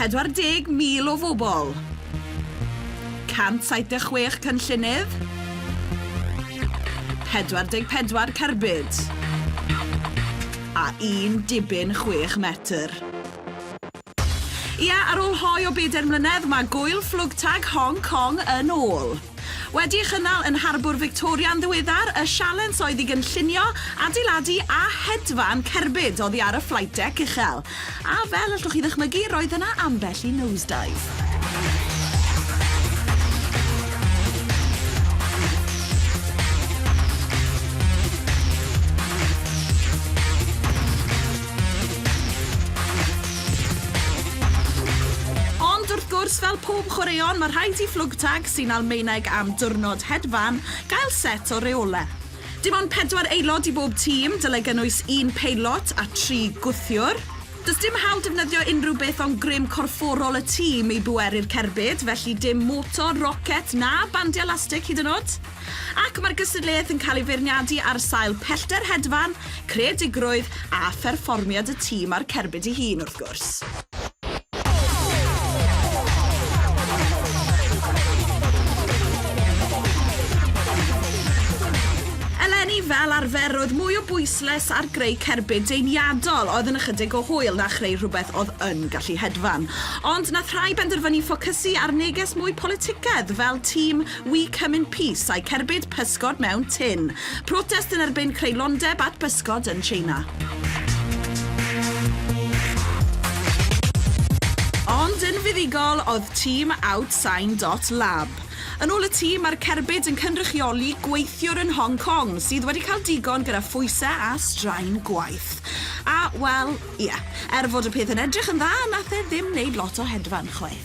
40,000 o fobl, 176 cynllunydd, 44 cerbyd a un dibyn chwech metr. Ia, ar ôl hoe o bedair mlynedd, mae gŵyl fflwgtag Hong Kong yn ôl! Wedi'i chynnal yn Harbwr Fictoria'n ddiweddar, y sialens oedd i gynllunio, adeiladu a hedfan cerbyd oddi ar y flight deck uchel. A fel allwch chi ddychmygu, roedd yna ambell i nosedive. Ond wrth gwrs, fel pob chwaraeon, mae rhaid i Flugtag, sy'n Almaeneg am Diwrnod Hedfan, gael set o reolau. Dim ond pedwar aelod i bob tîm, dylai gynnwys un peilot a tri gwthiwr. Does dim hawl defnyddio unrhyw beth ond grym corfforol y tîm i bweru'r cerbyd, felly dim motor, rocet na bandiau lastig hyd yn oed. Ac mae'r gystadleuaeth yn cael ei feirniadu ar sail pellter hedfan, creadigrwydd a pherfformiad y tîm a'r cerbyd ei hun, wrth gwrs. Eleni, fel arfer, roedd mwy o bwysles ar greu cerbyd deiniadol oedd yn ychydig o hwyl na chreu rhywbeth oedd yn gallu hedfan. Ond nath rhai benderfynu ffocysu ar neges mwy politicaidd fel tîm We come in peace a'u cerbyd pysgod mewn tin. Protest yn erbyn creulondeb at bysgod yn Tsieina. Ond yn fuddugol oedd tîm Outsign dot Lab. Yn ôl y tîm, mae'r cerbyd yn cynrychioli gweithiwr yn Hong Kong sydd wedi cael digon gyda phwysau a straen gwaith. A, wel, ie, er fod y peth yn edrych yn dda, nath e ddim wneud lot o hedfan, chwaith.